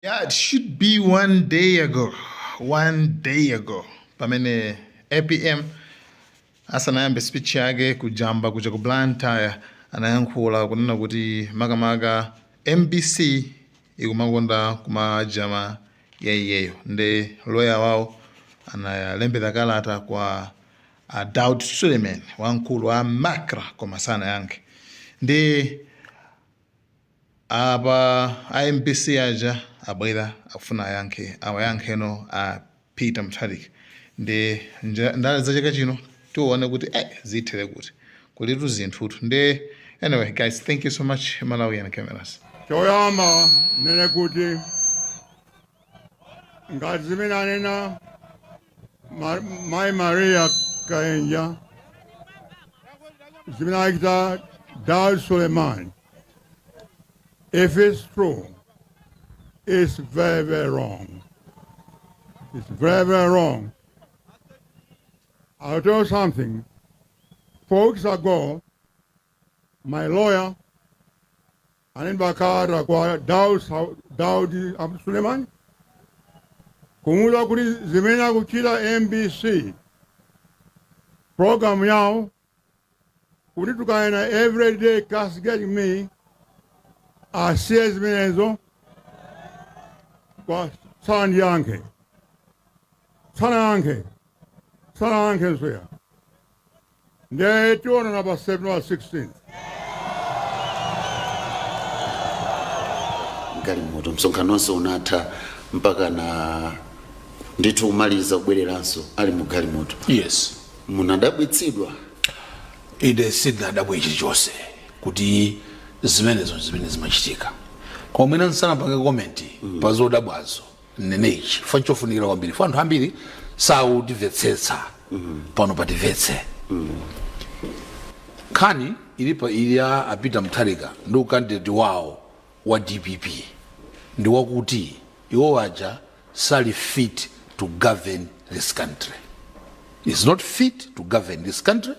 Yeah, it should be one day ago. One day ago. Pamene APM asanayambe speech yake kujamba kuja ku Blantyre anayankhula kunena kuti makamaka MBC ikumakonda kumachita jam iyeyo nde loya wawo analembera kalata kwa a Daud Suleiman wamkulu wa Macra koma sanayankhe ndi Apa a mbc aja abwera akufuna ayankhe awayankheno a Peter Mutharika nde ndale za chaka chino tione kuti eh zithere kuti kulitu zinthutu nde anyway guys thank you so much Malawian cameras. Choyamba nene kuti ngati zimene anena Ma- mayi maria kaenja zimene achita dar suleiman if it's true it's very very wrong it's very very wrong i'll tell you something four weeks ago my lawyer Analemba kalata kwa Daud a Suleiman kumuuza kuti zimene akuchita mbc program yawo kuti tukaena everyday castigate me asiye zimenezo koma sandiyankhe sanayankhe sanayankhe nsoya Ndiye tiona na pa September 16. galimoto msonkhano onse unatha mpaka na ndithu kumaliza kubwereranso ali mu galimoto yes munadabwitsidwa ine sindinadabwe chilichonse kuti zimenezo zimene zimachitika koma mwina nsanapange komenti pa zodabwazo mnenechi chifukwa chofunikira kwambiri fukwa anthu ambiri sautimvetsetsa pano patimvetse nkhani ilipo ili ya a Peter Mutharika ndi ukandideti wawo wa dpp ndi wakuti iwo waja sali fit to govern this country is not fit to govern this country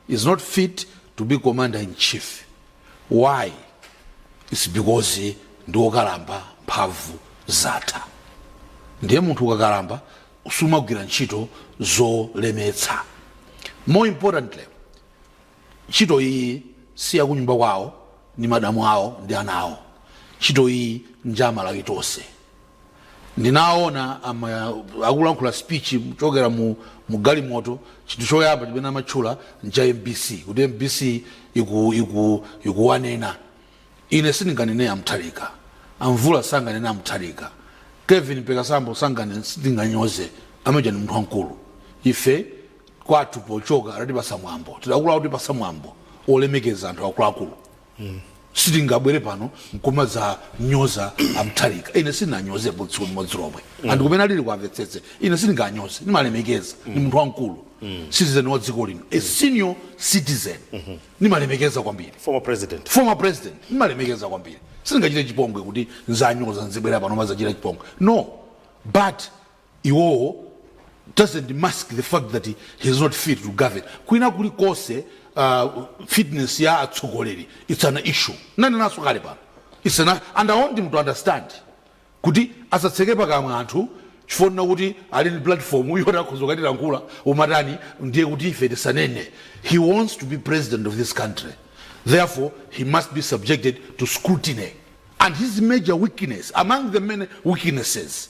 is not fit to be commander in chief why its because ndi okalamba mphamvu zatha ndiye munthu ukakalamba sumagwira ntchito zolemetsa more importantly ntchito iyi si yakunyumba kwawo ndi madamu awo ndi ana awo ntchito iyi nja amalawi tonse ndinaona ama- akulankhula speech kuchokera mu, mu galimoto chinthu choyamba chimene amatchula ncha mbc kuti mbc iku, iku, ikuwanena ine sindinganene a Mutharika amvula sanganene a Mutharika kevin pekasambo sangane sindinganyoze amene uja ndi munthu wamkulu ife kwathu pochoka adatipatsa mwambo tidakula kutipatsa mwambo olemekeza anthu akuluakulu sitingabwere pano nkumadzanyoza a mutharika ine sindinanyozepo tsiku limodzi lomwe anthu kumene alili amvetsetse ine sindinganyoze ndimalemekeza ndi munthu wamkulu citizen wa dziko lino a senior citizen ndimalemekeza kwambiri former president ndimalemekeza kwambiri sindingachite chipongwe kuti nzanyoza nzibwera pano kumadzachita chipongwe no but iwowo doesn't mask the fact that he is not fit to govern kwina kulikonse uh, fitness ya atsogoleri it's an issue nanenanso kale pano it's an, and i want him to understand kuti asatseke pakamwa anthu chifukwa chakuti ali ndi platform yoti akhoza kukatilankhula kumatani ndiye kuti ife tisanene he wants to be president of this country therefore he must be subjected to scrutiny and his major weakness among the many weaknesses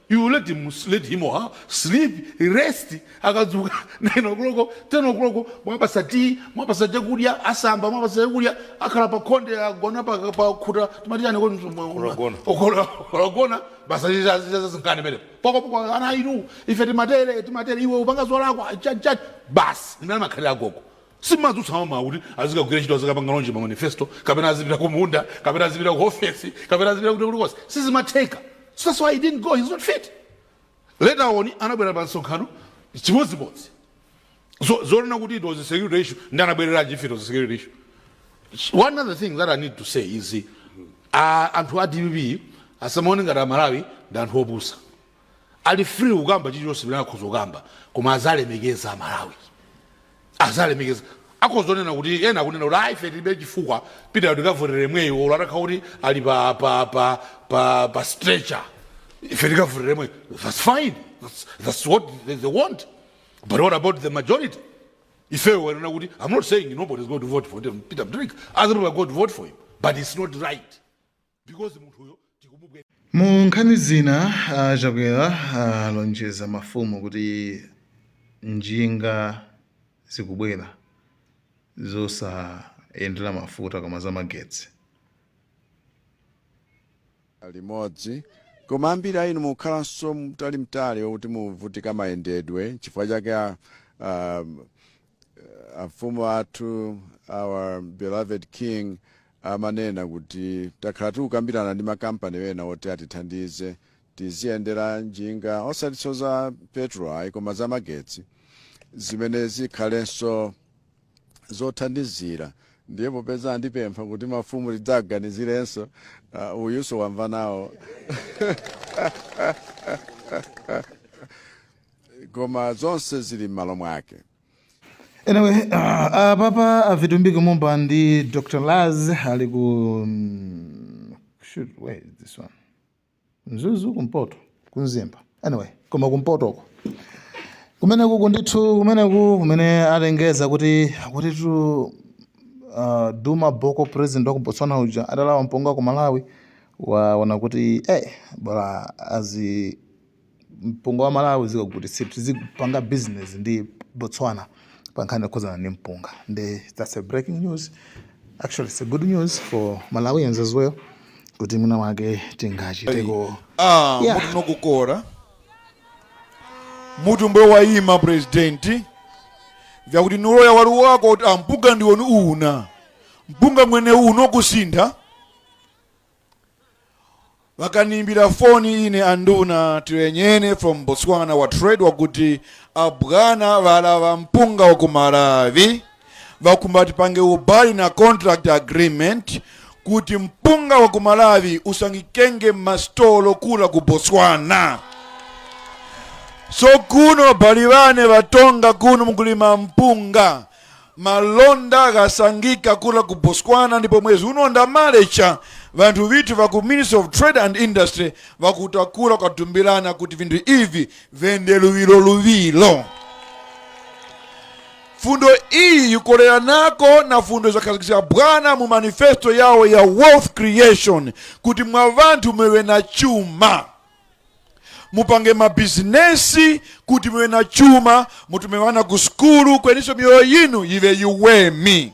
You let him or her sleep, rest, akadzuka 9 o'clock, 10 o'clock, mwapasa tea, mwapasa chakudya, asamba, mwapasa chakudya, akhala pa khonde, agona pa, pa khuta, timati chani kodi mtu- Kulogona. Okolo- kulogona, basi chicha- chicha zazing'ani pele. Poko poko ana inu, ife timatele, timatele, iwe upanga zolakwa, chani chani, basi, mmene amakhalira agogo. Simadzutsa mamawa kuti azikagwira ntchito azikapanga launch ma manifesto kapena azipita ku munda kapena azipita ku ofesi kapena azipita kuti kulikonse sizimatheka so that's why he didn't go he's not fit later on anabwera pa msonkhano chimodzimodzi so zonena kuti it was a security issue nde anabwereranji if it was a security issue one other thing that i need to say is uh, anthu a dpp asamaone ngati amalawi ndi anthu opusa ali free kukamba chilichonse chimene akhoza kukamba koma aziwalemekeza amalawi aziwalemekeza akhoza kunena kuti ena akunena kuti ayi ife tilibe chifukwa peter tikavotera omweyo olo atakhala kuti ali pa pa pa pa, pa stretcher ife tikavotera omweyo that's fine that's, that's what they, they want but what about the majority ifeyo wanena kuti i'm not saying nobody is going to vote for peter mutharika other people are going to vote for him but it's not right because munthuyo tikumubwe. Mu nkhani zina, a Chakwera alonjeza mafumu kuti njinga zikubwera zosayendera mafuta koma zamagetsi. limodzi koma ambiri a inu mukukhalanso mtalimtali wokuti muvutika mayendedwe chifukwa chake a um, amfumu athu our beloved king amanena kuti takhala tikukambirana ndi makampani wena oti atithandize tiziyendera njinga osatinso za petrol ayi koma za magetsi zimene zikhalenso zothandizira ndiye popeza andipempha kuti mafumu tidzaganizirenso uh, uyunso wamva nawo koma zonse zili m'malo mwake Anyway, uh, apapa a Vitumbiko Mumba ndi Dr. Laz ali ku mm, shoot, where is this one? Mzuzu kumpoto, ku Mzimba. Anyway, koma kumpoto uko. Kumene kuku ndithu, kumene ku kumene alengeza kuti kuti tu uh, Duma Boko president wa ku Botswana uja adalawa mpunga ku Malawi waona kuti eh bola azi mpunga wa Malawi uzikagulitsidwa tizipanga business ndi Botswana pa nkhani yokhudzana ndi mpunga nde that's a breaking news actually it's a good news for Malawians as well kuti mwina wake tingachiteko ah yeah. mutu nakukora mutu mbuya wayima presidenti wakuti ni uloya uli wako kuti ampunga ndiwone muna mpunga mwene uwo kusintha Vakanimbira foni ine anduna tirenyene from Botswana wa trade wakuti abwana valava mpunga wa ku Malawi vakumba tipange ubali na contract agreement kuti mpunga wa ku Malawi usangikenge mastolo kula ku Botswana. So kuno bali vane vatonga kuno mukulima mpunga Malonda akasangika kula ku Botswana ndipo mwezi uno ndamalecha vanthu vitu va ku Ministry of Trade and Industry vakutakula kwatumbilana kuti vinthu ivi vende luwilo luwilo fundo iyi yukolera nako na fundo zakhazikisa bwana mu manifesto yawo ya wealth creation kuti mwa vanthu mwewe na chuma mupange mabizinesi kuti muve na chuma mutume vana ku sukulu kweninso miyoyo yinu yive yiwemi